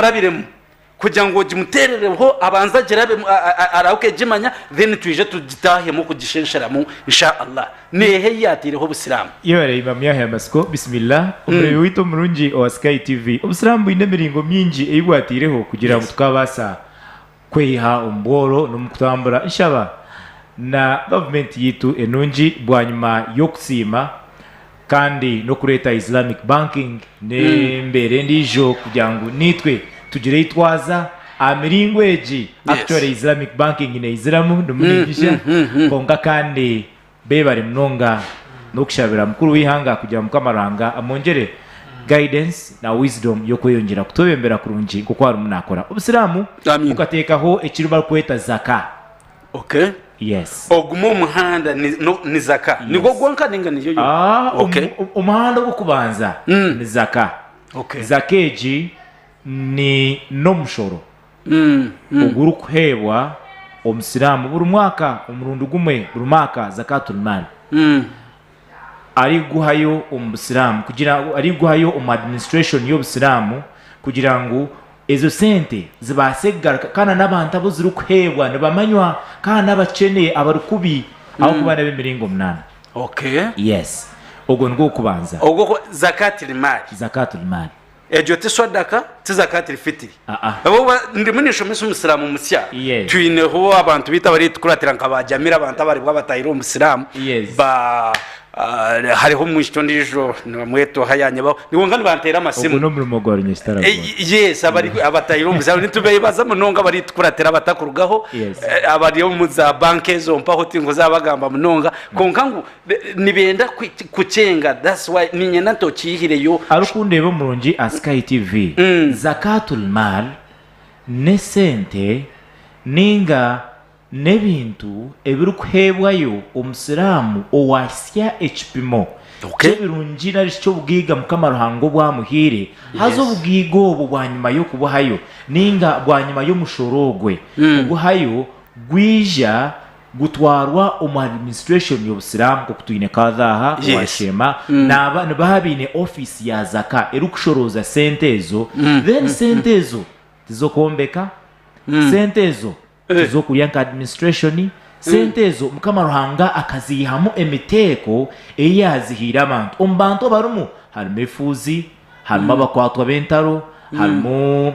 omurabiremu kugira ngu ogimuterereho abanze agirabemu arahuke agimanya then twije tugitahemu kugishensheramu Insha Allah neha eyi yateireho obusiramu. Yebare Imam Yahya Amasiko Bismillah Omureebi waitu omurungi owa Sky TV Obusiramu bwine emiringo mingi ei bwateireho kugira ngu tukabaasa kweyiha omu bworo n'omu kutambura nshaba na gavumenti yaitu enungi bwanyima y'okusiima kandi n'okureeta Islamic Banking n'embeera endiijo kugira ngu naitwe tugire ei twaza aha miringo egi actually Islamic Banking neiziramu ndimu ningija kwonka kandi Bebare munonga nokushabira mukuru w'eihanga kugira Mukama Ruhanga amwongyere guidance na wisdom yokweyongyera kutwebembera kurungi nkoku arimu nakora Obusiramu bukatekaho ekiri barikweta Zaka. Yes. Ogumu omuhanda ni Zaka. Nigwo gwonka ninga niyo yonka? Ok. Omuhanda ogwokubanza ni Zaka. Zaka egi ni nomushoro ogurikuheebwa Omusiraamu buri mwaka omurundi gumwe buri mwaka, Zakaatul Maal, ariguhayo omu Busiraamu kugira ariguhayo omu administration y'Obusiraamu kugira ngu ezo sente zibaase kugaruka kandi n'abantu abu zirikuheebwa nibamanywa kandi n'abakyene abari kubi ahabw'okuba n'ab'emiringo munaana. Okay. Yes. Ogwo nigwo gw'okubanza. Ogwo Zakaatil Maal. Zakaatul Maal. Egyo ti swadaka ti zakatil fitiri habwokuba ndimu ninshomesa omusiramu musya twineho abantu baitu abaritukuratira nka ba jamira abantu abaribwa batahire omu busiramu ba hariho omwishiki ondijo nibamweta oha yanyebaho kwonka nibantera amasimu ogwo nomurimo gwa runyesitara yes abatahire omu busiramu nitubebaza munonga abaritukuratira abatakurugaho abari omu za banka ezo mpaho tinkuza bagamba munonga kwonka ngu Nibenda kukyenga that's why ninyenda nti okyihireyo. Arikundeeba omurungi aha Sky TV, Zakaatul Maal n'esente nainga n'ebintu ebirikuheebwayo omusiraamu owaahitsya ekipimo ky'ebirungi nari shi ky'obugaiga Mukama Ruhanga obu amuhaire, haza obugaiga obwo bwanyima y'okubuhayo nainga bwanyima y'omushoro ogwe oguhayo gwija. gutwarwa omu administration y'obusiramu nk'oku twine kadha aha owa Yes. sheema Mm. naaba nibaha abaine office ya zaka erikushorooza sente ezo Mm, then mm, sente ezo tiz'okwombeka Mm. sente ezo Eh. tiz'okurya nka administration sente ezo mukama ruhanga akaziihamu emiteeko ei yaazihaire abantu omu bantu abarimu harimu efuuzi Harimu abakwatwa b'entaro, harimu,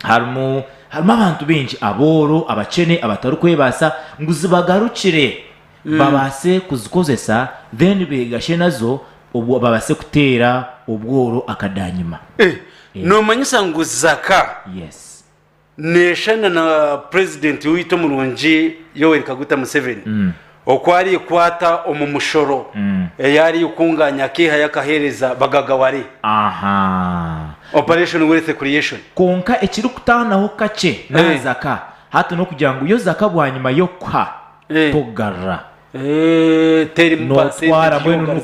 harimu, harimu abantu baingi, abooro, abakyene, abatarikwebaasa, ngu zibagarukire babaase kuzikozesa, then beegashe nazo obwo babaase kuteera obworo akadaanyima. Eh, Yes. Noomanyisa ngu zaka? Yes. Neeshushana na Purezidenti waitu omurungi Yoweri Kaguta Museveni oku arikwaata omu mushoro eyi arikukungaanya akeehayo akaheereza bagagaware, Operation Wealth Creation. Kwonka ekirikutaanaho kakye n'aha zaka, hati n'okugira ngu yo zaka bwanyima y'okukuha, tokugarura. notwara mbwenu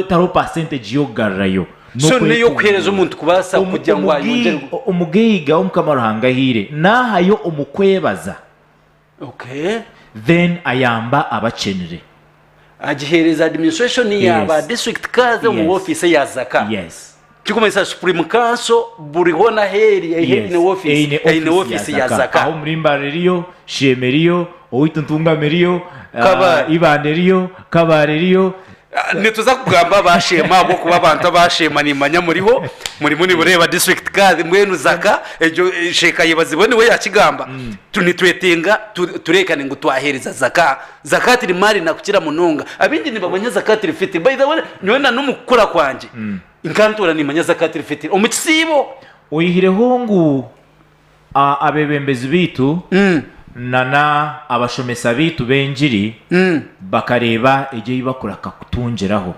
tariho percentage yokugarurayo omugeiga omukama ruhanga ahaire nahayo omukwebaza then ayamba abakyenire agihereza administration ya ba district kazi omu office ya zaka. Kirikumanyisa Supreme Council buri hoona ahu eri eine ofiisi, eine ofiisi ya Zaka. Aho Murimbare eriyo, Sheema eriyo, owaitu Ntungamo eriyo, Ibanda eriyo, Kabaale eriyo. Nituza kugamba aba Sheema ahabw'okuba abantu aba Sheema nimmanya muriho, murimu nimureeba District Kadhi, mbwenu Zaka egyo Sheikh Ayebazibwe niwe yaakigamba, nitwetenga tureekane ngu twaheereza Zaka. Zakat eri maali nakukira munonga abingi nibamanya zakat el fitr by the way nyowe na nomu kukura kwangye nkantoora nimanya zakat el fitr omu kisiibo. Oyihireho ngu a abebembezi baitu na na abashomesa baitu b'engiri bakareeba egyo ei bakuraka kutungiraho.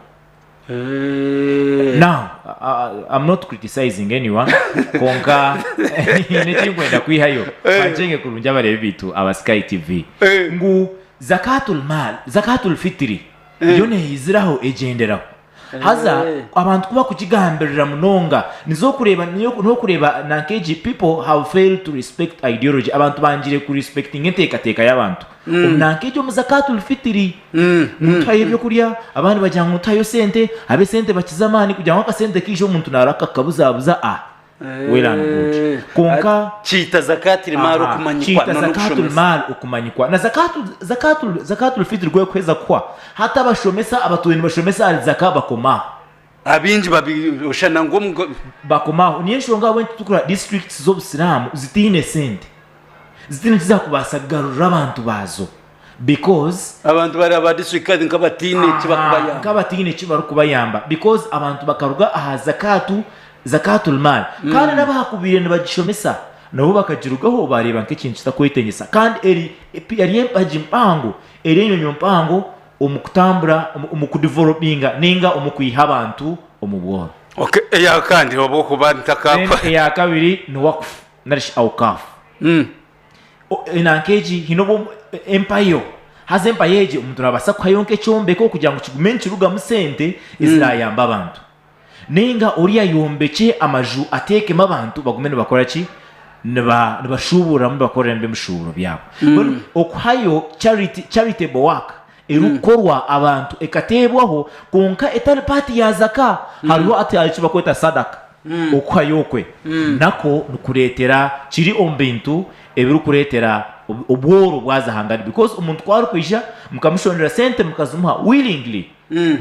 now uh, I'm not criticizing anyone konka nyine ekinkwenda kwihayo bancenge kurungi abareebi baitu aba Sky TV Eh. ngu zakatul mal zakatul fitiri yo neeyiziraho egyenderaho haza Eh. abantu ku bakugigambirira munonga nizo okureeba niyo- n'okureeba nanka egi people have failed to respect ideology abantu bangire ku respectinga enteekateeka y'abantu Omu myaka egyo omu Zakaatul Fitiri nituhayo eby'okurya, abandi bagira ngu nituhayo sente, ab'esente bakiza amaani kugira ngu akasente kaija omuntu naaraba kakabuzaabuza a well and good kwonka Kiita Zakaatil Maal okumanyikwa kiita Zakaatul n'okushomesa. Maal okumanyikwa na Zakaatul Zakaatul Zakaatul Fitiri ku erikuheza kuhwa hati abashomesa abatwire nibashomesa ahari Zaka bakomaho. Abaingi babishushana ngu omu. Bakomaho. Niyo enshonga ahabw'enki turikureeba disiturikiti z'Obusiraamu zitaine sente, zitaine eki zaakubaasa kugarurira abantu baazo because. Abantu baraba ba disiturikiti kandi nka abataine eki bakubayamba. Aha, nk'abataine eki barikubayamba because abantu bakaruga aha zakaatu, Zakaatul Maal, kandi n'abu baakubaire nibagishomesa nabo bakagirugaho baareeba nk'ekintu kitakwetengyesa kandi eri, yari empagi mpango, eri enyomyo mpango omu kutambura omu kudevelopinga ninga omu kwiha abantu omu bworo. Ok eyakandi obwokuba ntakakwa. Then eyakabiri ni wakf narishi Awqaf. Nanka egi hine obu empayo haza empayo egi omuntu nabasa kuhayo nka ekyombeko kugira ngu kigume nikirugamu sente ezirayamba abantu. Ninga ori ayombekye amaju ateekemu abantu bagume nibakora ki? Nibashuubururamu, nibakoreramu eby'ebishuuburo byabo. Mbwenu okuhayo, charity, charitable work, erikukorwa abantu ekateebwaho kwonka etari paati ya zaka. Hariho eki barikweta sadaka. Okuhayo okwe nakwo nikureetera, kiri omu bintu ebirikureetera obworo bwaza hangari. Because omuntu ku arikwija mukamushondera sente mukazimuha willingly.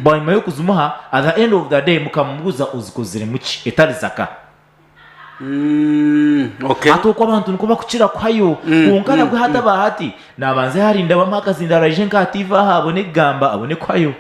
bwanyima y'okuzimuha at the end of the day mukamubuuza ozikoziremu ki etari zaka? Hati okwo abantu nikwo bakukira kuhayo kwonka nabwe hataba hati nabanza yarinda bamuhe akazindaaro aije nka ha TV aha abone kugamba abone kuhayo.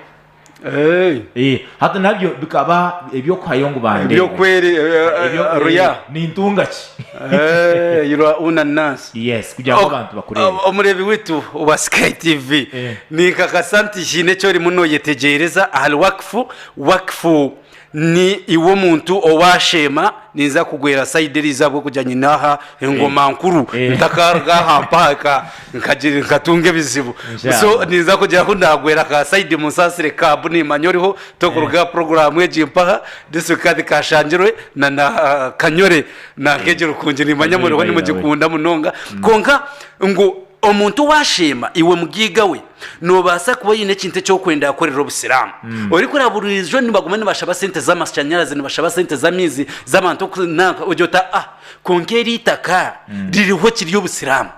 Hati nabyo bikaba ebyokuhayo ngu bandeebe. Ebyokweri, Ebyokweri, Ruya. Nintunga ki? Eeh irwa una nasi. Yes kugira ngu abantu bakureebe. Omureebi waitu owa Sky TV, ninkakasa nti haine eki orimu nooyetegyereza ahari wakifu. Wakifu ni iwe omuntu owaasheema ninza kugwera sayidi eriijo ahabw'okugira ngu nyine aha engoma nkuru ntakaruga aha mpaaka nkatunga ebizibu. So ninza kugira ahu naagwera ka sayidi munsaasire ka bu niimanya oriho, tokuruga aha puroguraamu egi mpaha. District kandi kashangirwe na na kanyore na nkeje rukungi nimanya Kanyore muriho by the way. nimugikunda munonga konka ngu omuntu owasheema iwe mugiiga we nobaasa kuba oine ekintu ekyokwenda yakorera obusiramu orikureba buriijo nibaguma nibashaba sente z'amashanyarazi nibashaba sente z'amaizi z'abantu oku- nanka ogye ota ah konka eri itaka ririho kiri obusiramu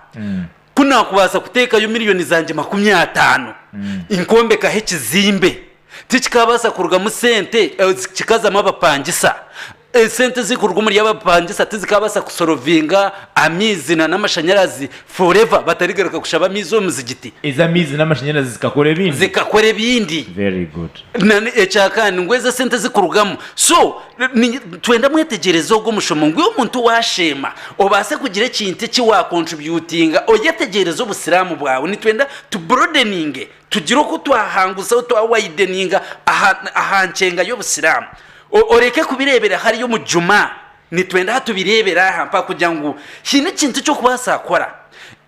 Ku naakubaasa kuteekayo milioni zangye makumi ataano nkombekaho ekizimbe, tikikaabaasa kurugamu sente ezi kikazamu abapangisa? Esente ezirikuruga omuri abapangisa tizikaabaasa kusorovinga amaizi na n'amashanyarazi forever batarigaruka kushaba amaizi omu muzigiti? Ezi amaizi n'amashanyarazi zikakora ebindi? Zikakora ebindi. Very good. Nana ekyakandi ngu ezi esente ezirikurugamu so Nitwenda mwetegyereze ogu omushomo ngu omuntu waasheema obaase kugira ekintu eki waakontribyutinga oyetegyereze Obusiraamu bwawe. Nitwenda tu broadeninge, tugire oku twahanguzaho, twa wideninga aha aha nkyenga y'Obusiraamu. Oreke kubireebera hariya omu Jumaa, nitwenda aha tubireebere aha mpaha kugira ngu haine ekintu eki orikubaasa kukora.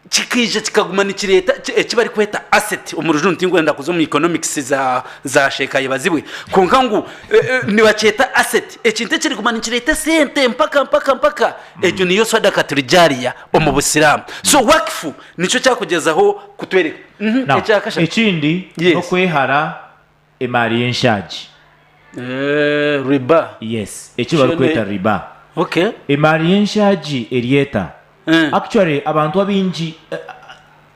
kikaija kikaguma nikireeta eki barikweta asset omu rujungu tinkwenda kuza omu economics za za sheeka yebazibwe kwonka ngu eh, eh, nibakyeta asset ekintu ekiriguma nikireeta esente mpaka mpaka mpaka egyo niyo sadaka turijariya omu busiraamu so wakifu nikyo kyakugyezaho kutwereka Mhm, Now, ekyakashatu ekindi Yes. n'okwehara Emaari y'enshaagi. Eeh riba. Yes eki barikweta riba. Okay. Emaari y'enshaagi eri eta? Eeh. Actually abantu abaingi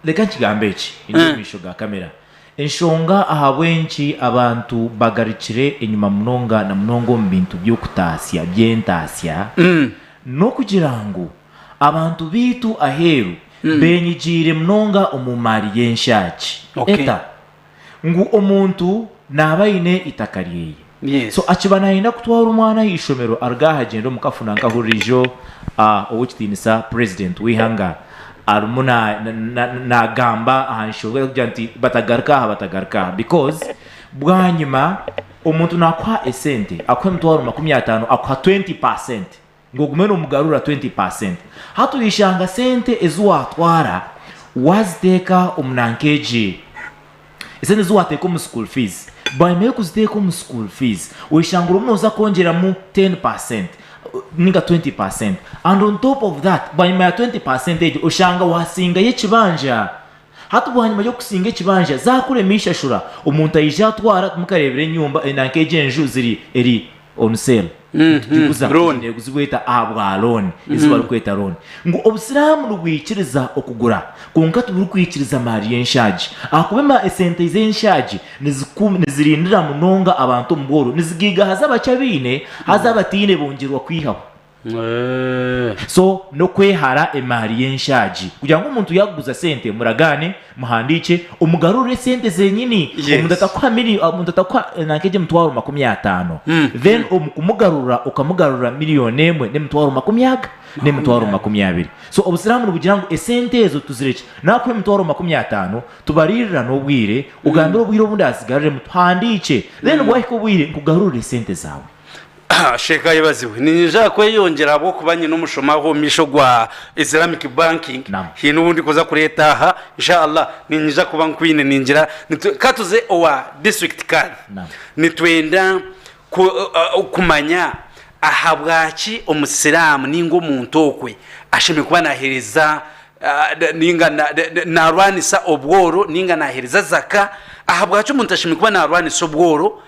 reka nkigambe eki ndi omu maisho ga camera enshonga ahabw'enki abantu bagarukire enyima munonga na munonga omu bintu by'okutaasya by'entaasya n'okugira ngu abantu baitu aheeru beenyigiire munonga omu maari y'enshaagi. Eta? ngu omuntu naaba aine eitaka ryeye. So akiba nayenda kutwara omwana aha ishomero aruga aha gyenda omu kafuna nkahurira ijo owekitiinisa president weihanga arumu nagamba aha nshonga yo kugira nti batagaruka aha batagaruka aha because bwanyima omuntu nakuha esente akuha emitwaro makumi atano akuha 20 percent ngu ogume noomugarura twenti paasenti. Hati orishanga sente ezi waatwara waaziteeka omu nanka egi, esente ezi waateeka omu school fees, bwanyima y'okuziteeka omu school fees orishanga orimu nooza kwongyeramu ten percent nainga twenti percent and on top of that bwanyima ya twenti percent egyo orishanga waasingayo ekibanja. Hati bwanyima y'okusinga ekibanja zakuremu ishashura omuntu aija atwara timukarebire enyumba eri nanka egi enju ziri eri on sale nitugiguza Loan. neguzibwa eta ahabwa loan ezi barikweta loan ngu obusiramu nibwikiriza okugura kwonka tiburikwikiriza emari y'enshaagi ahakuba ema esente z'enshaagi niziku nizirindira munonga abantu omu bworo nizigiiga haza abakye abaine haza abataine bongyerwa kwihaho So n'okwehara emaari y'enshaagi kugira ngu omuntu yaakuguza sente muragaane, muhandiikye, omugarurire sente zenyini. Omuntu atakuha miri, omuntu atakuha nanka egyo emitwaro makumi ataano, then omu kumugarurira okamugarurira miriyoni emwe n'emitwaro makumi aga n'emitwaro makumi abiri. So Obusiraamu nibugira ngu esente ezo tuzirekye. Naakuha emitwaro makumi ataano, tubariirira n'obwire, ogambire obwire obu ndaazigaruriremu, tuhandiikye, then bwahika obwire nkugarurire sente zaawe. Sheikh ayebazibwe. Ninyija aha kweyongyera ahabw'okuba nyine omushomo aha omu maisho gwa Islamic Banking. Naam. Haine ou ndikuza kureeta aha. Insha Allah ninyija kuba nkwine ningira nitwe ka tuze owa District Kadhi. Naam. Nitwenda ku- uh, uh, kumanya ahabwaki Omusiraamu ninga omuntu okwe ashemereire kuba naaheereza ah, na- ninga na- na- na- naarwanisa obworo ninga naaheereza zaka. Ahabwaki omuntu ashemereire kuba naarwanisa obworo?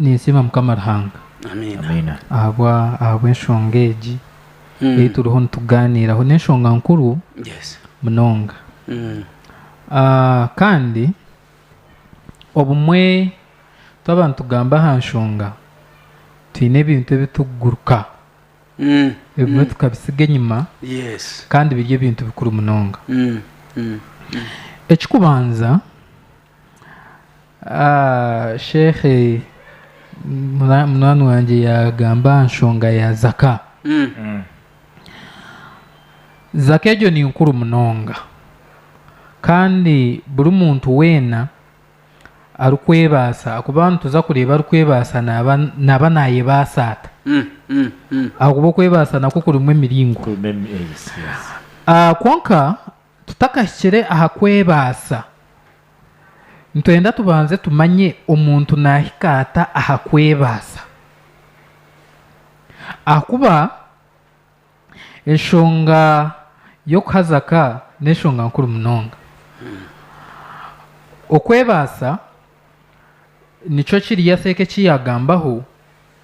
Ninsiima Mukama Ruhanga ahabwa ahabw'enshonga egi ei turiho nitugaaniiraho. N'enshonga nkuru munonga. Kandi obumwe twaba nitugamba aha nshonga, twine ebintu ebi turikuguruka ebimwe tukabitsiga enyima kandi biri ebintu bikuru munonga. Ekirikubanza, Sheikhe munwaani wangye yaagamba aha nshonga ya zaka. Zaka egyo ni nkuru munonga. Kandi buri muntu weena arikwebaasa, ahakuba nituza kureeba arikwebaasa naaba naaba naayebaasa ata? Ahakuba okwebaasa nakwo kurimu emiringo. Kwonka Tutakahikire aha kwebaasa, nitwenda tubanze tumanye omuntu naahika ata aha kwebaasa. Ahakuba enshonga y'okuhaza ka n'enshonga nkuru munonga. Okwebaasa. Nikyo kiriya Seeka eki yaagambaho,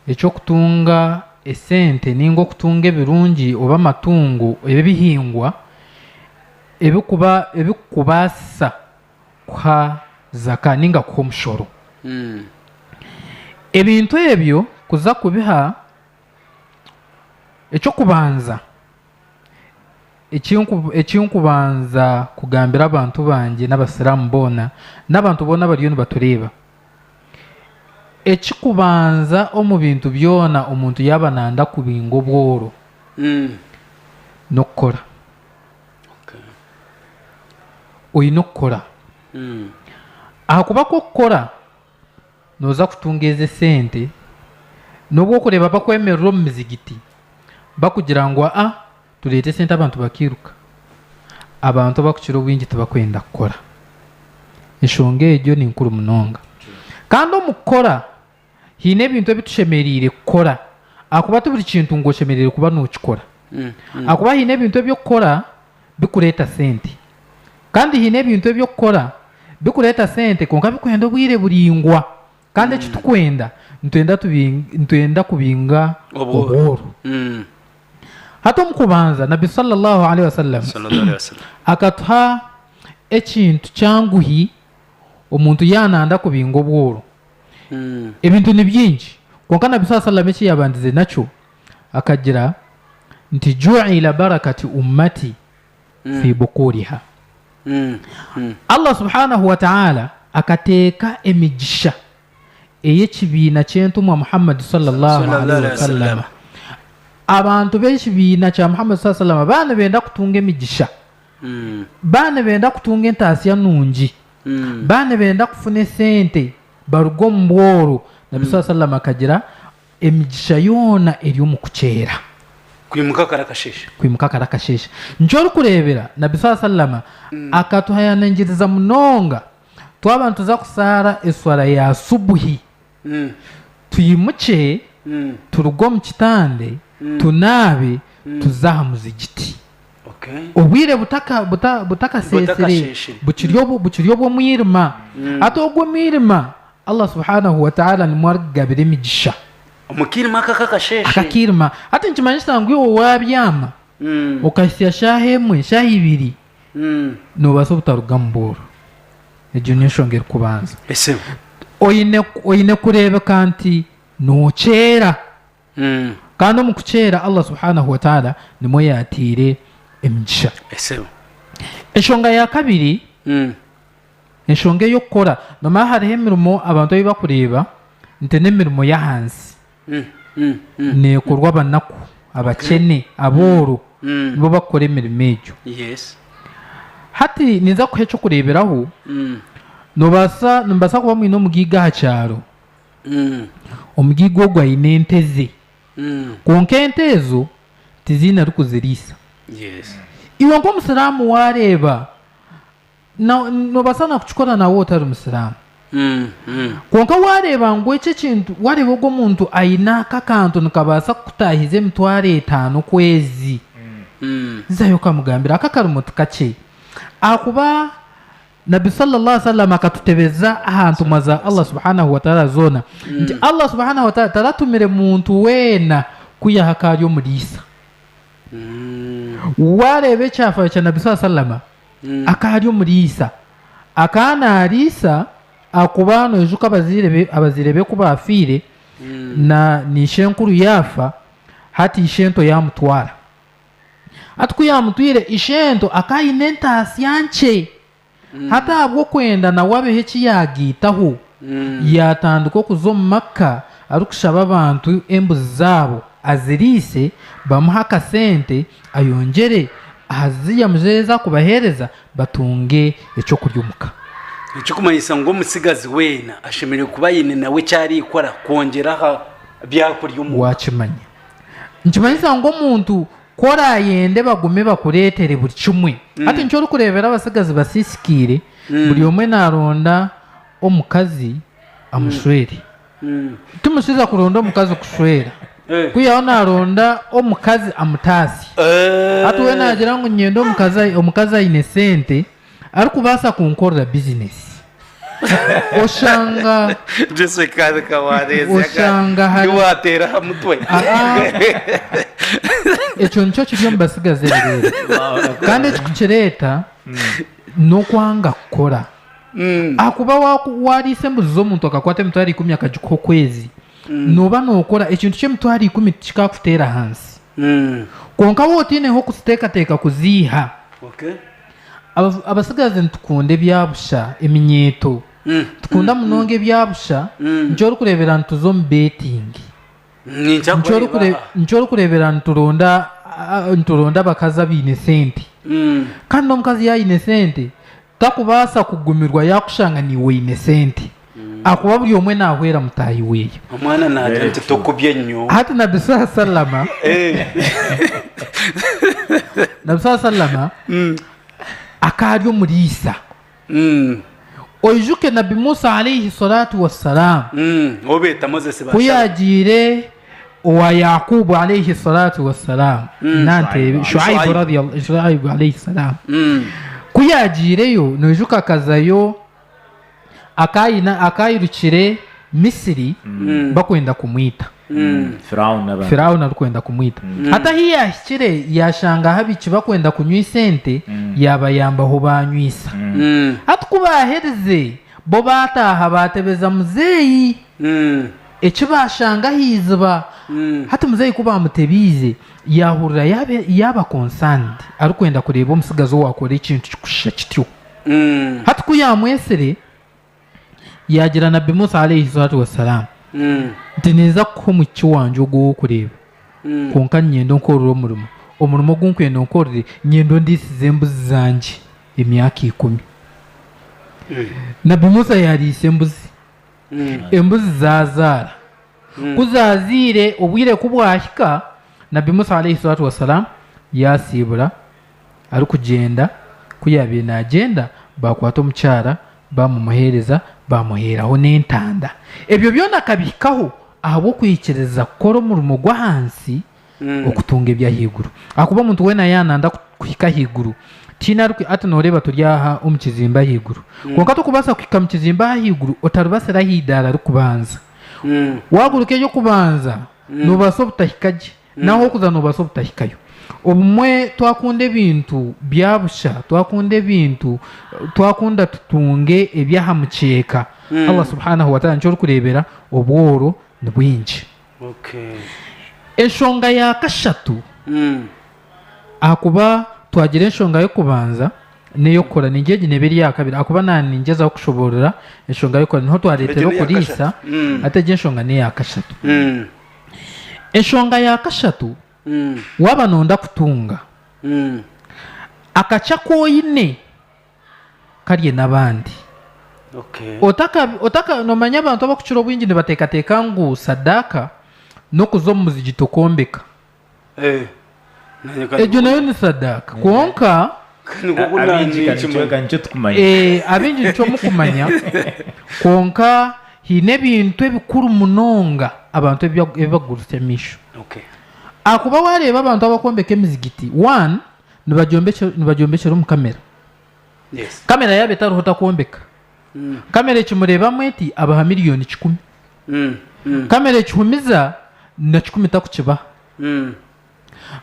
eky'okutunga esente nainga okutunga ebirungi oba amatungo oba ebihingwa ebirikukubaasisa kuha zaka nainga kuha omushoro. Ebintu ebyo kuza kubiha, eky'okubanza. Ekinkubanza kugambira abantu bangye n'abasiramu boona n'abantu boona abariyo nibatureeba, ekikubanza omu bintu byoona omuntu yaaba nayenda kubinga obworo n'okukora, oyine okukora ahakuba ku okukora Nooza kutunga ezi esente n'obu orikureeba bakwemerera omu mizigiti bakugira ngu aa tureete esente abantu bakairuka. Abantu abakukira obwingi tibakwenda kukora. Enshonga egyo ni nkuru munonga. Kandi omu kukora haine ebintu ebi tushemereire kukora ahakuba ti buri kintu ngu oshemereire kuba nookikora ahakuba haine ebintu ebi orikukora bikureeta sente. Kandi haine ebintu ebi okukora bikureeta sente kwonka bikwenda obwire buraingwa. Kandi eki turikwenda, nitwenda kubinga obworo. Hati omu kubanza Nabbi Sallallahu Alaihi Wasallam akatuha ekintu kyanguhi omuntu yaaba naayenda kubinga obworo. Ebintu ni bingi, kwonka Nabbi Sallallahu Alaihi Wasallam eki yaabandize nakyo, Akagira nti, Ju'ila barakati ummati fi bukuriha. Allah subhanahu wa ta'ala akateeka emigisha ey'ekibiina ky'Entumwa Muhammad sallallahu alaihi wasallama. Abantu b'ekibiina kya Muhammad sallallahu alaihi wasallama baaba nibenda kutunga emigisha, baaba nibenda kutunga entaasya nungi, baaba nibenda kufuna esente baruge omu bworo, Nabbi sallallahu alaihi wasallama akagira. Emigisha yoona eri omu kukyera. Kwimuka kare akasheeshe. Kwimuka kare akasheeshe. Nikyo orikureebera Nabbi swalla sallama akatuhayanangiriza munonga twaba nituza kushaara eswala ya subuhi twimukye turuge omu kitande tunaabe tuze aha muzigiti. Obwire butakasheesire bukiri bukiri obw'omwirima. Hati ogwo omwirima Allah Subhaanahu wa Ta'aala nimwo arikugabira emigisha. Omu kiirima aka akakasheeshe. Aka akiirima. Hati nikimanyisa ngu iwe waabyama okahitsya shaaha emwe, shaaha ibiri, noobaasa obutarugamu booro. Egyo niyo nshonga erikubanza. Oine oine kureebeka nti nookyeera. Kandi omu kuceera Allah subhanahu wa ta'ala nimwo yaataire emigisha. Enshonga ya kabiri, enshonga ey'okukora. Noomanya hariho emirimo abantu ei barikureeba nti n'emirimo y'ahansi. Neekorwa abanaku, abakyene, abooro, nibo barikukora emirimo egyo. Hati ninza kukuha eky'okureeberaho, noobaasa, nimubaasa kuba mwine omugaiga aha kyaro. Omugaiga ogwo aine ente ze, kwonka ente ezo tiziine arikuziriisa. Iwe nk'Omusiraamu waareeba, noobaasa naakukikora naawe otari Musiraamu. Kwonka waareeba ngu eki ekintu, waareeba ogwo muntu aine aka akantu nikabaasa kukutaahiza emitwaro etaano okwezi, zaayo okamugambira. Aka akarimo ti kakye ahakuba Nabbi salla Allahu wasalam akatutebeza aha ntumwa za Allah subhanahu wataala zoona nti Allah subhanahu wataala taratumire muntu weena kwihaho akaari omuri Isa. Waareeba ekyafaayo kya Nabbi salla salama akaari omuri Isa, akaba naari Isa ahakuba noijuka abazaire be abazaire be ku baafiire na na ishenkuru yaafa hati ishento yaamutwara. Hati ku yaamutwire, ishento akaba aine entaasya nkye. Hati ahabw'okwenda nawe abeho eki yaagaitaho, yaatandika okuza omu maka arikushaba abantu embuzi zaabo aziriise, bamuhe akasente ayongyere aha zi yamuzaire ezi arikubaheereza batunge eky'okurya omu ka. Ekirikumanyisa ngu omutsigazi weena ashemereire kuba aine nawe eki arikukora kwongyera aha by'okurya omu ka. Waakimanya. Nikimanyisa ngu omuntu ku oraayende bagume bakureetere buri kimwe. Hati nikyo orikureebera abatsigazi basiisikaire, buri omwe naaronda omukazi amushwere. Timukiija kuronda omukazi kushwera, ku yaaba naaronda omukazi amutaasye. Hati we naagira ngu niinyenda omukazi aine sente, Arikubaasa kunkorera bizinesi. Oshanga. Jesse kandi ka waareeze aga Oshanga hari- ndi waateera aha mutwe. Aha. Ekyo nikyo kiri omu batsigazi ebireere. Kandi ekikukireeta n'okwanga kukora. Mm. Ahakuba waaku- waariisa embuzi z'omuntu akakwata emitwaro ikumi akagikuha okwezi, nooba nookora ekintu ky'emitwaro ikumi tikikaakuteera hansi. Mm. Kwonka waaba otaineho kuziteekateeka kuziiha, Okay. Abatsigazi nitukunda ebya busha, eminyeeto. Nitukunda munonga ebya busha. Nikyo orikureebera nituza omu beetingi. Nikyo orikureebera nituronda abakazi abaine sente. Kandi n'omukazi yaaba aine sente, tarikubaasa kugumirwa yaakushanga naiwe oine sente. ahakuba buri omwe naahwera mutaahi we. Omwana naagira nti, Tokubye nyowe. Hati Nabbi saaha sallama Nabbi saaha sallama akaba ari omuriisa. Oijuke Nabbi Musa alaihi swalatu wa salaamu ou beeta Mozesi ku yaagiire owa Yaakuubu alaihi swalatu wa salaamu na nteebe Shuaibu radiyallahu Shuaibu alaihi salaamu ku yaagiireyo noijuka akazayo akaayina- akaayirukire Misiri bakwenda kumwita. Firauni n'abantu. Firauni arikwenda kumwita. Hati ahi yaahikire yaashanga ahabiki bakwenda kunywisa ente, yaabayambaho baanywisa. Hati ku baaherize, bo baataaha baatebeza muzeeyi eki baashanga aha iziba. Hati muzeeyi ku baamutebeize, yaahurira yaaba yaaba concerned, arikwenda kureeba omutsigazi owaakora ekintu kirikushuusha kityo. Hati ku yaamwetsire, yaagira Nabbi Musa, Alaihi Swalatu wa Salaam, nti, Ninza kukuha omwishiki wangye ogwo ow'okureeba, kwonka niinyenda onkorere omurimo. Omurimo ogu nkwenda onkorere, niinyenda ondiisize embuzi zangye emyaka ikumi. Nabbi Musa yaariisa embuzi. Embuzi zaazaara. Ku zaazaire, obwire ku bwahika, Nabbi Musa, Alaihi Swalatu wa Salaam, yaasiibura arikugyenda, ku yaabaire naagyenda baakwata omukyara baamumuheereza, baamuheeraho n'entanda. Ebyo byona akabihikaho ahabw'okwikiriza kukora omurimo gw'ahansi okutunga eby'ahaiguru. Ahakuba omuntu weena yaaba naayenda kuhika ahaiguru, tihaine arikwi-, hati nooreeba turi aha omu kizimba ahaiguru, kwonka torikubaasa kuhika omu kizimba aha ahaiguru otaribatsire aha eidaara rikubanza. Waaguruka ery'okubanza, noobaasa obutahika gye. N'ahokuza noobaasa obutahikayo. Obumwe twakunda ebintu bya busha, twakunda ebintu, twakunda tutunge eby'aha mukyeeka, Allah Subhaanahu wa Taala nikyo orikureebera obworo ni bwingi. Enshonga ya kashatu, ahakuba twagira enshonga y'okubanza n'ey'okukora, niingira egi neeba eri yaakabiri ahakuba naaba ningyezaho kushoboorora enshonga y'okukora niho twareetera okuriisa, hati egi enshonga n'eya kashatu. Enshonga ya kashatu, waaba noonda kutunga, akakye aku oine karye n'abandi. Noomanya abantu abakukira obwingi nibateekateeka ngu sadaaka n'okuza omu muzigiti okwombeka. Egyo nayo ni sadaaka kwonka. Abaingi nikyo mukumanya kwonka haine ebintu ebikuru munonga abantu ebi bakuguriisa amaisho. Ahakuba waareeba abantu abakwombeka emizigiti, nibagyombekyera omu kamera. Kamera yaaba etariho takwombeka. Kamera ekimureebamu eti abaha milioni kikumi. Kamera ekihumiza na kikumi takukibaha.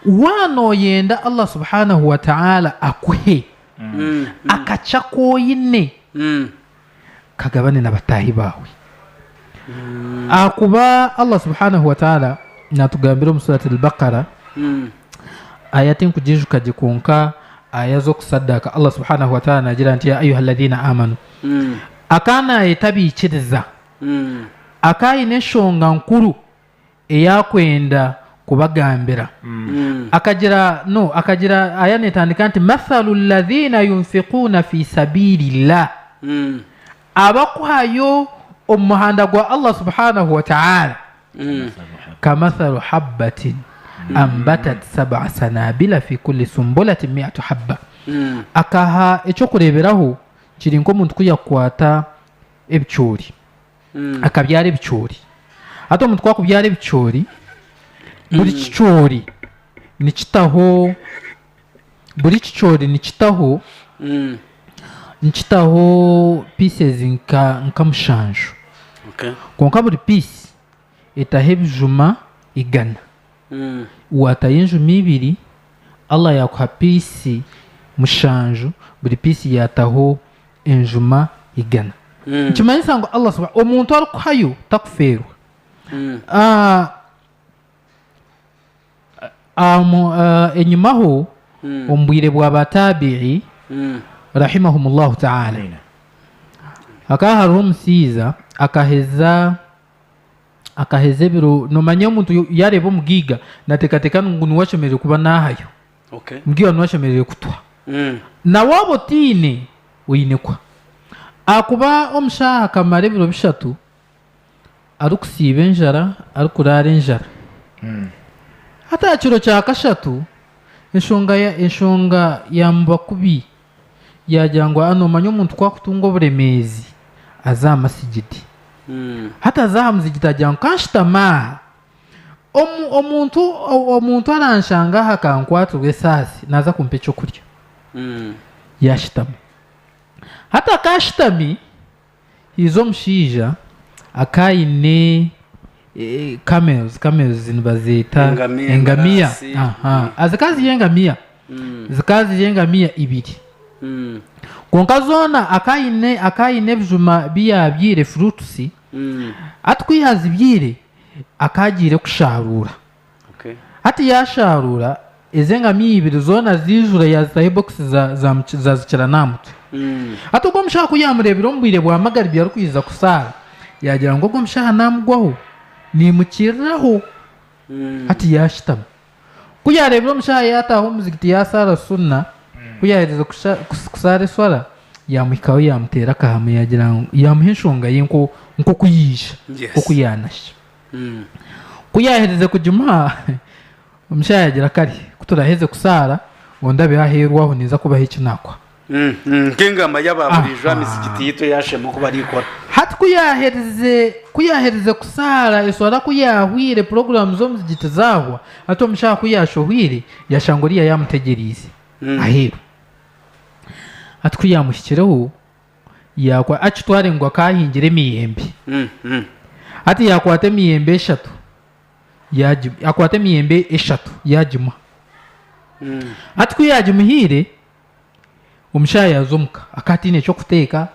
Waaba nooyenda Allah subhanahu wa ta'ala akuhe akakye aku oine, kagabane na bataahi baawe. Ahakuba Allah subhanahu wa ta'ala naatugambira omu Surat Al-Baqarah, Aya tinkugijuka gye kwonka aya z'okusadaaka Allah subhanahu wa taala naagira nti, Yaa ayuha ladhiina aamanu Akaba naayeta abaikiriza akaba aine enshonga nkuru ei arikwenda kubagambira akagira no akagira aya neetandika nti, Mathalu ladhiina yunfikuuna fii sabiili llah Abakuhayo omu muhanda gwa Allah subhanahu wa ta'ala kamathalu habbatin ambatat sab'a sanabila fi kulli sumbulatin mi'atu habba, akaha eky'okureeberaho kiri nk'omuntu ku yakwata ebicoori akabyara ebicoori, hati omuntu ku akubyara ebicoori buri kicoori nikitaho. buri kicoori nikitaho nikitaho pieces nka nka mushanju Okay. kwonka buri piisi etaho ebijuma igana Mm. waatayo enjuma ibiri allah yaakuha piisi mushanju buri piisi yaataho enjuma igana Mm. nikimanyisa ngu allah suba- omuntu arikuhayo takufeerwa Mm. Ah, Ahm, eh, enyimaho omu bwire bwa ba Taabi'i, rahimahumullahu ta'aala, Amiina. hakaba haroho omusaija akaheza akaheza ebiro nomanya omuntu yo- yareeba omugiiga nateekateeka ngu niwe ashemereire kuba naahayo Okay. omugiiga niwe ashemereire kutwa Mm. na waaba otaine oine kuha ahakuba omushaho akamara ebiro bishatu Arikusiiba enjara, arikuraara enjara. Hati aha kiro kya kashatu, enshonga enshonga yaamuba kubi, yaagira ngu, aa noomanya omuntu ku arikutunga oburemeezi, aza aha masigiti. Hati aza aha muzigiti agira ngu, kanshutame aha, omu omuntu omuntu aranshanga aha akankwatirwa esaasi, naaza kumpa eky'okurya. Yaashutama. Hati akaashutami. Haija omushaija akaba aine camels, camels nibazeeta Engamiya, engamiya, embaraasi. aha. Ah, zikaba ziri engamiya, Mm. zikaba ziri engamiya ibiri. Mm. Kwonka zoona akaba aine- akaba aine ebijuma bi yaabyaire, fruits, Mm. hati ku yaazibyaire akaba agiire kushaaruura. Hati yaashaaruura ezi engamiya ibiri zoona ziijura yaazitaho ebokisi zaazikira n'aha mutwe. Hati ogwo mushaho ku yaamureebire omu bwire bwa magaribi arikwija kushaara, yaagira ngu ogwo mushaho naamugwaho, niimukiriraho. Hati yaashutama. Ku yaareebire omushaho yaataaha omu muzigiti yaashaara Sunna, ku yaaherize kushaara eshwara, yaamuhikaho yaamuteera akahamu yaagira ngu yaamuha enshonga ye nk'oku yaija, nk'oku yaanashya. Ku yaaherize kugimuha, omushaija yaagira kare ku turaheze kusaara ondabeho aheeru aho ninza kubaha eki naakwa. Nk'engamba y'aba buriijo aha mizigiti yaitu eya Shema oku baraikora. Hati ku yaaherize ku yaaherize kusaara, eswara ku yaahwaire, puroguraamu z'omuzigiti zaahwa, hati omushaija ku yaashohweire, yashanga oriya yaamutegyereize aheeru. Hati ku yaamuhikireho, Yaakwa akitware ngu akaahingire emiyembe. Hati yaakwata emiyembe eshatu, yaagi, akwata emiyembe eshatu yaagimuha. Hati ku yaagimuhaire, omushaija yaaza omuka, akaba ataine eky'okuteeka.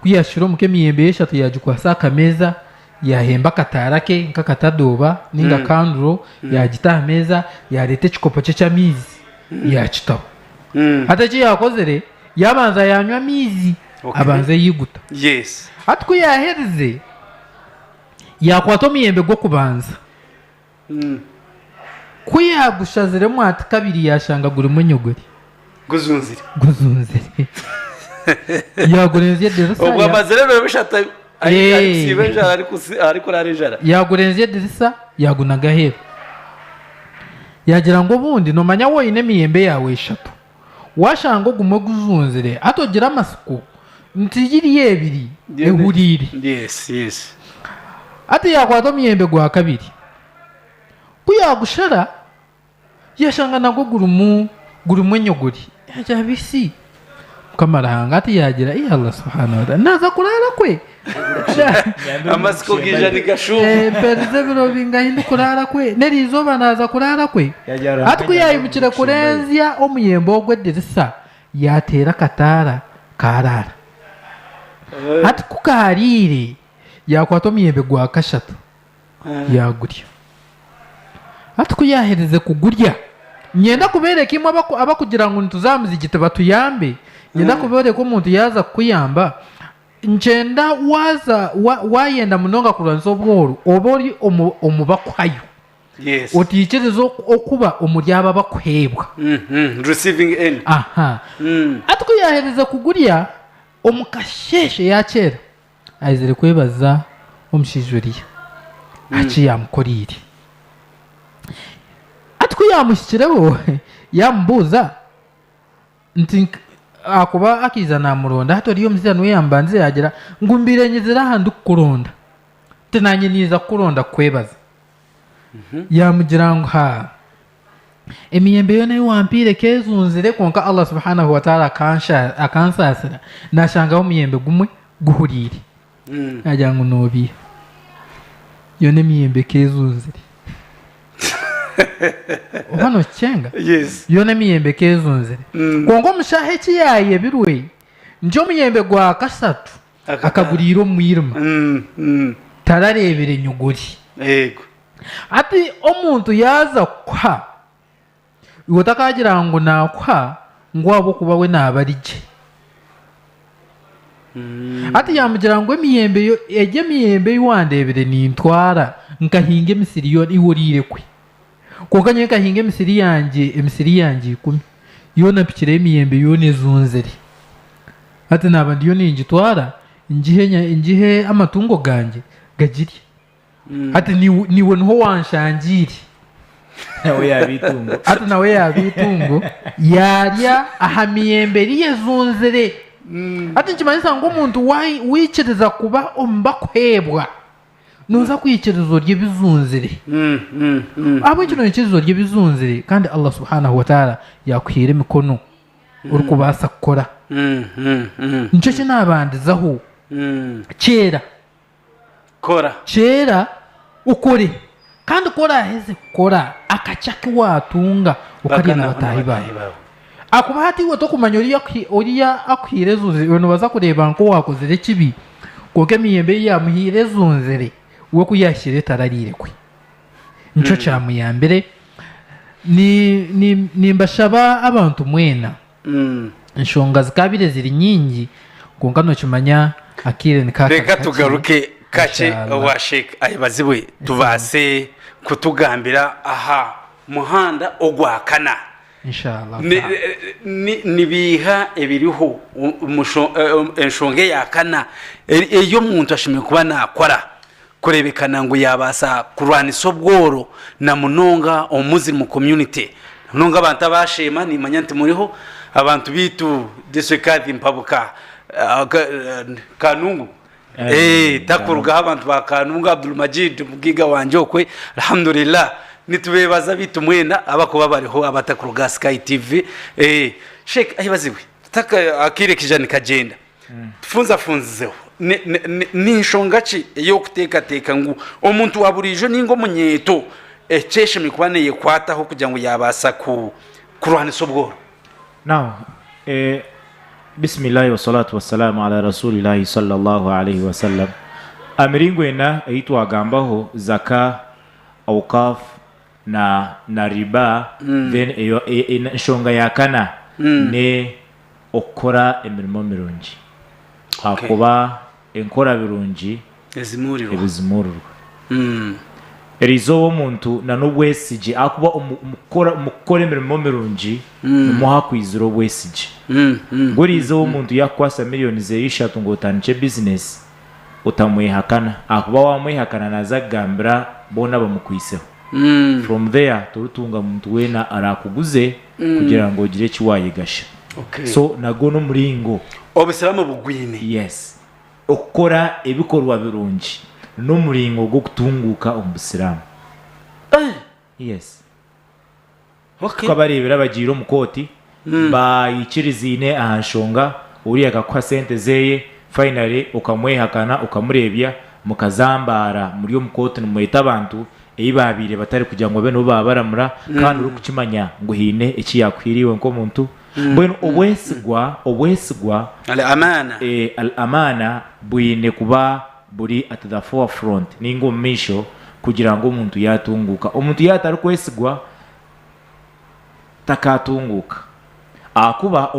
Ku yaashukire omuka emiyembe ye eshatu, yaagikwasa aha kameeza, yaahemba akataara ke nk'akatadooba nainga kanduro, yaagita aha meeza, yaareeta ekikopo kye ky'amaizi, yaakitaho. Hati eki yaakozire, Yaabanza yaanywa amaizi, abanza eyeiguta. Hati ku yaaherize, yaakwata omuyembe gw'okubanza. Ku yaagushaziremu ahati kabiri yaashanga gurimu enyogori. Guzunzire. Yaagurenzya edirisa. Yaagurenzya edirisa, yaagunaga aheeru. Yaagira ngu, Obundi, noomanya waaba oine emiyembe yaawe eshatu. Waashanga ogumwe gujunzire hati ogire amatsiko nti giri ebiri ehuriire. Hati yaakwata omuyembe gwa kabiri. Ku yaagushara, yaashanga nagwo gurimu enyogori. Yaagira ati, Isi! Mukama Ruhanga! Hati yaagira, Ai Allah Subhaana Wataala! Naaza kuraara kwe? Amatsiko gaija nigashuuma. Eh, mperize ebiro bingahi ndikuraara kwe? N'eriizooba naaza kuraara kwe? Hati ku yaimukire kurenzya omuyembe ogwo edirisa, yaateera akataara, kaaraara. Hati ku kaariire, yaakwata omuyembe gwa kashatu, yaagurya. Hati ku yaaherize kugurya, niinyenda kubeereka imwe abakugira ngu nituza aha muzigiti batuyambe, niinyenda kubeereka omuntu yaaza kukuyamba, Ngyenda waaza wa- waayenda munonga kurwanisa obworu, obe ori omu omu bakuhayo, Yes. otaikiriza oku- okuba omuri abo abakuheebwa. Mm, mm, Receiving end. Aha. Mm. Hati ku yaaherize kugurya, omu kasheeshe yaakyera, aizire kwebaza omushaija oriya aha ki yaamukoreire. Hati ku yaamuhikireho, yaamubuuza Nti ahakuba akaija naamuronda, hati ori omuzairani we yaamubanza yaagira ngu mbaire nyizire aha ndikukuronda, nti naanye naija kukuronda kukwebaza. Yaamugira ngu ha, emiyembe yoona ei wampaire ekeejunzire kwonka Allah Subhaanahu wataala akansaasira naashangaho omuyembe gumwe guhuriire. Nagira ngu nobiiha. Yoona emiyembe ekaba ezunzire. Oba nokikyenga? Yoona emiyembe ekaba ezunzire. Kwonka omushaaha eki yayebirwe nti omuyembe gwa kasatu akaguriira omu mwirima, tarareebire nyuguri. Hati omuntu yaaza kuha. Iwe otakaagira ngu naakuha ngu ahabw'okuba we naaba ari gye. Hati yaamugira ngu, Emiyembe, egyo emiyembe ei wandeebire nintwara nkahinga emisiri yoona, iwe oriire kwe? Kwonka nyowe nkahinga emisiri yangye, emisiri yangye ikumi, yoona mpikireyo emiyembe yoona ezunzire. Hati naaba ndiyo ningitwara ngihe, ngihe amatungo gangye gagirye. Hati niwe niwe niho wanshangiire. Nawe yaaba eitungo. Hati nawe yaaba eitungo yaarya aha miyembe ei ezunzire. Hati nikimanyisa ngu omuntu waai- waikiriza kuba omu bakuheebwa, nooza kwikiriza orye ebizunzire. Ahabw'enki noikiriza orye ebizunzire kandi Allah Subhaanahu wa Taala yaakuhaire emikono orikubaasa kukora? Nikyo ki naabandizaho. Kyeera Kora. Kyeera, okore. Kandi ku oraaheze kukora akakye aku waatunga, okarye na bataahi baawe. Ahakuba hati iwe tokumanya oriya akuhaire ezunzire. Iwe noobaasa kureeba ngu owaakozire ekibi, kwonka emiyembe ei yaamuhaire ezunzire, we ku yaahikire etarariire kwe. Nikyo kyamuyambire. Nimbashaba abantu mwena. Enshonga zikaabaire ziri nyingi kwonka nookimanya akaire nikaakara kakye. Reka tugaruke kakye owa Sheikh ayebazibwe tubaase kutugambira aha muhanda ogwa kana. Ni biiha ebiriho omu nshonga eya kana ei omuntu ashemereire kuba naakora Kureebekana ngu yaabaasa kurwanisa obworo na munonga omu Muslim community. Na munonga abantu aba Sheema, niimanya nti muriho, abantu baitu District Kadhi Mpabuka, Kanungu, takurugaho abantu ba Kanungu, Abdul Majid Mugiga wangye okwe, Alhamdulillah, nitubeebaza abaitu mwena abakuba bariho abatakuruga aha Sky TV. Sheikh ayebazibwe. Akaire kaija nikagyenda. Tufunzafunzizeho, Ni nshonga ki ey'orikuteekateeka ngu omuntu wa buriijo ninga omunyeeto eki eshemereire kuba neekwataho kugira ngu yaabaasa kurwanisa obworo? Emiringo ena ei twagambaho, Zaka, Awqaaf, na na riba then eyo enshonga ya kana ne okukora emirimo mirungi ahakuba enkora birungi ebizimurirwa eri izooba omuntu na nobwesigye ahakuba omu kukora omu kukora emirimo mirungi nimwo hakwizira obwesigye ngu eri izooba omuntu yakukwasa million zeye ishatu ngu otandikye business otamwehakana ahakuba wamwehakana naza kugambira boona abamukwiseho from there torituunga muntu weena arakuguze kugira ngu ogire eki wayegasha so nagwo nomuringo obusiramu bugwine yes okukora ebikorwa birungi nomuringo gwokutunguuka omu busiramu yes. Oku abareebire abagiire omu kooti baikirizaine aha nshonga, oriya akakuha sente zeeye finally okamwehakana okamureebya mukazambaara muri omu kooti nimweta abantu ei baabaire batari kugira ngu babe nibo baabaramura kandi orikukimanya ngu haine eki yaakuhaire iwe nk'omuntu. Mbwenu obwesigwa, obwesigwa, Al-Amaana, Al-Amaana bwine kuba buri at the forefront ninga omu maisho kugira ngu omuntu yatunguuka. Omuntu yaaba atarikwesigwa takaatunguuka ahakuba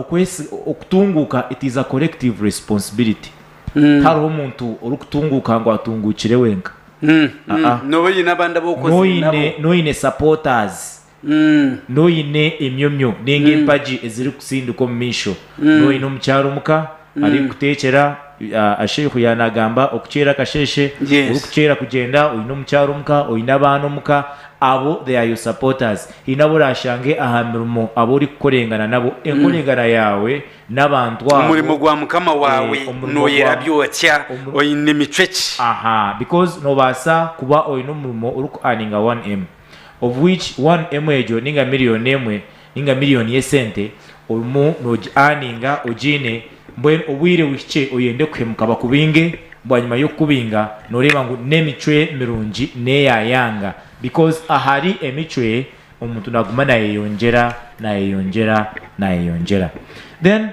okutunguuka it is a collective responsibility. Tihariho omuntu orikutunguuka ngu atunguukire wenka. Nooba oine abandi abu okozire nabo. Nooba oine supporters N'oine emyomyo ninga empagi ezirikusindika omu maisho? N'oine omukyara omuka arikukuteekyera? Sheikh yaaba naagamba okuceera kasheeshe, orikuceera kugyenda, oine omukyara omuka, oine abaana omuka, abo they are your supporters. Haine abu oraashange aha mirimo abu orikukorengana nabo. Enkorengana yaawe n'abantu abo. Omurimo gwa Mukama waawe nooyera byokya oine micwe ki? Aha, because noobaasa kuba oine omurimo orikuaninga one em. of which one emwe egyo ninga million emwe ninga million yesente orimu nogi earninga ogiine mbwenu obwire buhikye oyende kuhemuka bakubinge bwanyima yokukubinga noreeba ngu nemicwe mirungi neyayanga because ahari emicwe omuntu naguma nayeyongyera nayeyongyera nayeyongyera then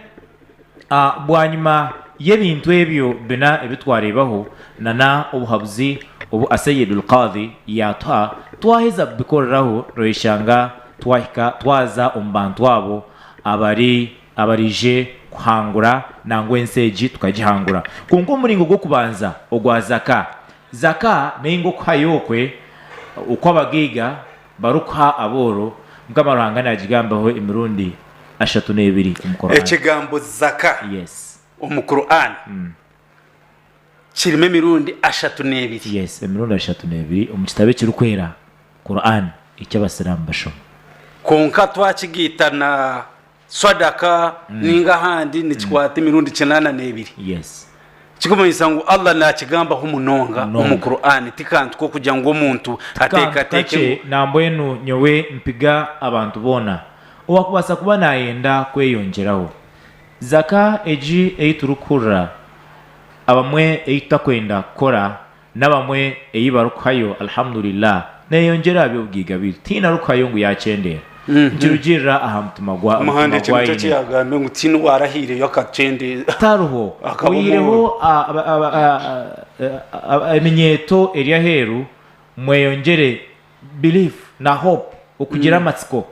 Bwanyima y'ebintu ebyo bina ebi twareebaho na n'obuhabuzi obu Aseyed Al-Qadhi yaatuha, twaheza kubikoreraho noyeshanga twahika twaza omu bantu abo abari abaraije kuhangura nangwa ensi egi tukagihangura. Kwonka omuringo gw'okubanza ogwa Zaka, Zaka nainga okuhayo okwe okw'abagaiga Barikuha abooro, Mukama Ruhanga naagigambaho emirundi ashatu n'ebiri omu Qur'an. Ekigambo Zaka omu Qur'an kirimu emirundi ashatu n'ebiri. Yes, emirundi ashatu n'ebiri omu kitabo ekirikwera, Qur'an, eki Abasiraamu bashoma. Kwonka twakigaita na Swadaka mm. ninga ahandi nikikwata mm. emirundi kinaana n'ebiri yes. kikumanyisa ngu allah nakigambaho munonga omu qur'ani tikantu kokugira ngu omuntu ateekateeke nambwenu nyowe mpiga abantu boona owakubaasa kuba nayenda kweyongyeraho zaka egi ei turikuhurira abamwe ei tutakwenda kukora N'abamwe ei barikuhayo Alhamdulillah neeyongyera aha by'obugaiga beitu, tihaine arikuhayo ngu yaakyendeera. Nikirugiirira aha mutima gwa omutima gu aine. Tihariho oyihireho eminyeeto eri aheeru, mweyongyere belief na hope, okugira amatsiko.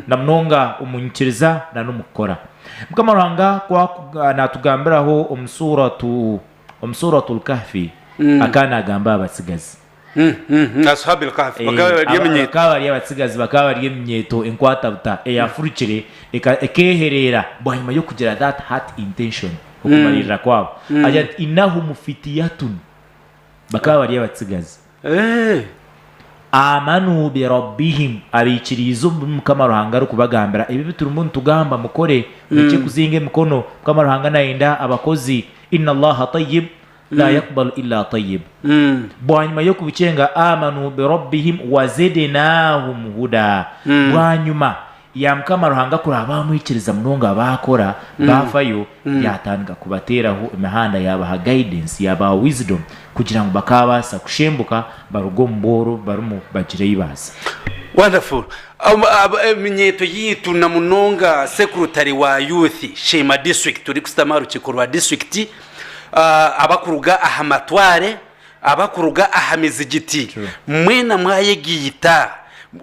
na munonga omu nyikiriza na n'omu kukora. Mukama Ruhanga ku akuba naatugambiraho omu Suuratu, omu Suuratul Kahfi, akaba naagamba aha batsigazi. Ashaab al-Kahfi bakaba Eeh, bari aba- eminyeeto. bakaba bari abatsigazi bakaba bari eminyeeto enkwatabuta eyaafurukire eka- ekeehereera bwanyima y'okugira that heart intention, okumariirira kwabo, agira ati, Innahum fityatun, bakaba bari abatsigazi. Aamanu bi Rabbihim, abaikiriize omu bi Mukama Ruhanga arikubagambira, ebi ebi turimu nitugamba mukore, murekye kuzinga emikono, Mukama Ruhanga naayenda abakozi, Inna Allaha Tayyib, laa yakubalu illa Tayyib. Bwanyima y'okubikyenga, Aamanu bi Rabbihim wa Zidnaahum Hudaa, bwanyima ya Mukama Ruhanga kuraabe aha mwikiriza munonga baakora baafayo yaatandika kubateeraho emihanda yaabaha guidance yaabaha wisdom kugira ngu bakaabaasa kushembuka baruge omu bwooro barimu bagira ei baaza. Wonderful eminyeeto yaitu na munonga sekurutare wa youth sheema district turikusitama aha rukiiko rwa district abakuruga aha matwaare, abakuruga aha mizigiti, mwena mwayegaita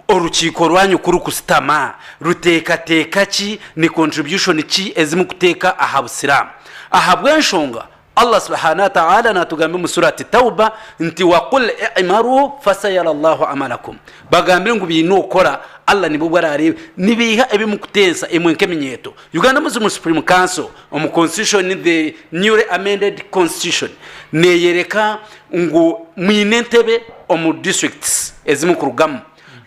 orukiiko rwanyu ku rukusitama, ruteekateeka ki, ni contribution ki ezi mukuteeka aha Busiraamu? Ahabw'enshonga Allah Subhaana Wataala naatugambira omu Surat Tawba nti, Wa qul i'maruu fasayara Allahu amalakum, bagambire ngu biine okukora Allah nibwo bu araareeba. Nibeiha ebi mukutensa imwe nk'eminyeeto. Uganda Muslim Supreme Council. Omu Constitution, the newly amended Constitution neyereka ngu mwine entebe omu districts ezi mukurugamu.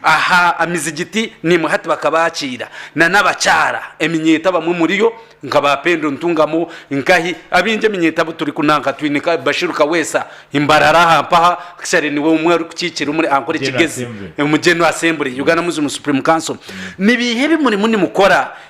Aha amizigiti nimwo hati bakaba bakiira na n'abakyara eminyeeto abamwe muriyo nka ba Pendo Ntungamo, Nkahi, abingi eminyeeto abu turi kunanka twine nka Bashiru Kaweesa i Mbarara aha mpaha actually niwe omwe ari kukiikira omuri Ankole General Kigezi Assembly. omu General Assembly, Uganda Muslim Supreme Council. Ni biiha ebi murimu nimukora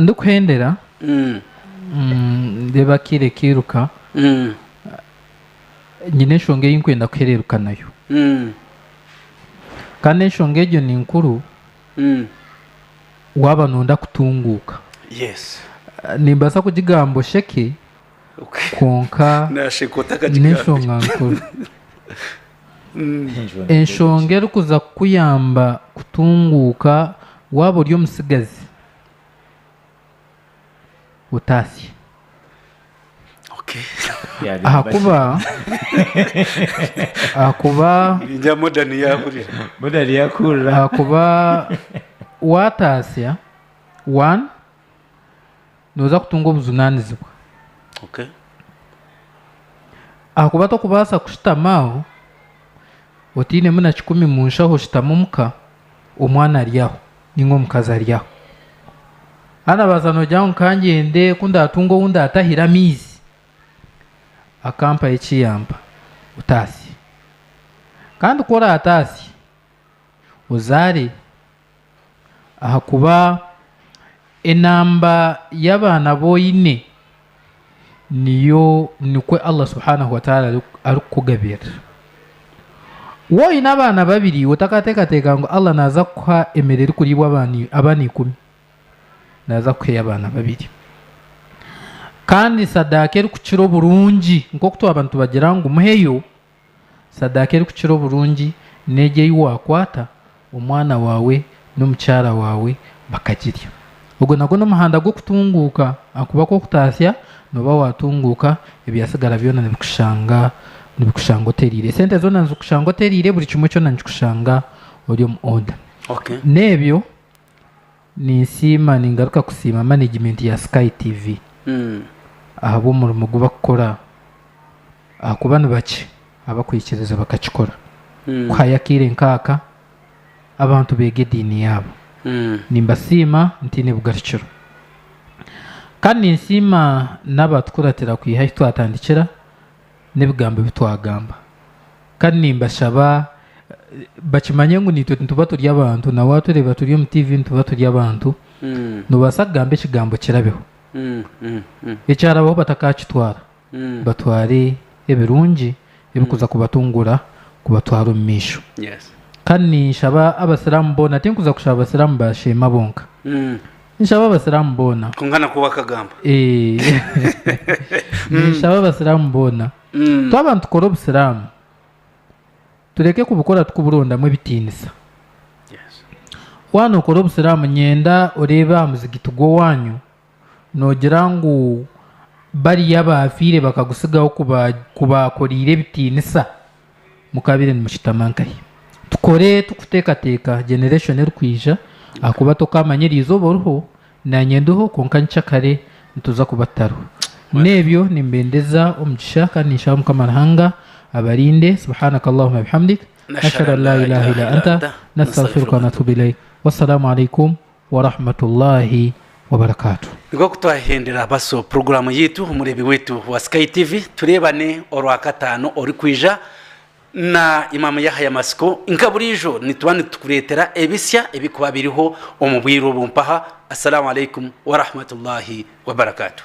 ndikuhendera Mm, mm, ndeeba akira ekairuka mm, nyine enshonga ei nkwenda kuhereeruka nayo mm, kandi enshonga egyo ni nkuru mm. waaba noonda kutunguuka yes Ah, nimbaasa kugigamba osheke kwonka n'enshonga nkuru. Enshonga erikuza kukuyamba kutunguuka waaba ori omutsigazi otatsya. Ahakuba ahakuba waatatsya, nooza kutunga obujunaanizibwa. Ahakuba tokubaasa kushutama aho otainemu na kikumi mu nshaho, oshutame omu ka, omwana ari aho nainga omukazi ari aho. Haza noobaasa noogira ngu ka ngyende ku ndaatunga ou ndaatahira amaizi, akampaho eki yampa. Otaasya. Kandi ku oraataasye, ozaare. Ahakuba enamba y'abaana abu oine niyo nikwo Allah subhanahu wa ta'ala arikukugabirira. Waaba oine abaana babiri iwe otakateekateeka ngu Allah naaza kukuha emere erikuriibwa abaana ikumi, naaza kukuha ey'abaana babiri. Kandi sadaaka erikukira oburungi nk'oku twaba nitubagira ngu muheyo. Sadaaka erikukira oburungi n'egyo ei waakwata, omwana waawe n'omukyara waawe bakagirya. Ogwo nagwo n'omuhanda gw'okutunguuka, ahakuba ku okutaasya, nooba waatunguuka, ebyatsigara byona nibikushanga nibikushanga oteriire. Esente zoona nizikushanga oteriire, buri kimwe kyona nikikushanga ori omu order. Okay. N'ebyo. Ninsiima ningaruka kusiima manegimenti ya Sky TV ahabw'omurimo ogu barikukora ahakuba ni bakye abakwikiriza bakakikora. Kuhayo akaire nk'aka abantu beega ediini yaabo. Nimbasiima ntaine bugarukiro. Kandi ninsiima n'abaatukuratira kwiha ahi twatandikira. n'ebigambo ebi twagamba. Kandi nimbashaba bakimanye ngu niitwe nituba turi abantu, na waatureeba turi omu tiivi nituba turi abantu, noobaasa kugamba ekigambo kirabeho. Ekyarabaho batakaakitwara, batware ebirungi ebirikuza kubatunguura kubatwara omu maisho. Kandi ninshaba Abasiraamu boona, tinkuza kushaba Abasiraamu ba Sheema bonka. Ninshaba abasiramu boona. Kwonka nakwo wakagamba. Eeh. Ninshaba abasiramu boona. Twaba nitukora obusiramu, tureke kubukora tukuburondamu ebitiinisa. Waaba nokora obusiramu nyenda oreebe aha muzigiti gw'owaanyu nogira ngu bariya abaafiire bakagutsigaho kubaakoreire ebitiinisa. Mukabaire nimukitama nkahi? Tukore turikuteekateeka generation erikwija ahakuba tokaamanya eryizooba oriho naanye ndiho kwonka nikya kare nituza kuba tutariho. N'ebyo nimbendeza omugisha kandi ninshaba Mukama Ruhanga abarinde. Subhanak Allahumma wa bihamdik. Ashhadu an la ilaaha illa anta, nastaghfiruka wa natubu ilaik. Wassalamu alaikum. wa rahmatullahi wa barakatuh. Nikwo ku twahendera baso puroguramu yaitu omureebi waitu wa Sky TV. Tureebane Orwakataano orikwija na Imam Yahaya Matsiko. Nka buriijo nituba nitukureetera ebitsya ebirikuba biriho omu bwire obu. Mpaha Assalamu Alaikum wa Rahmatullahi wa Barakatuh.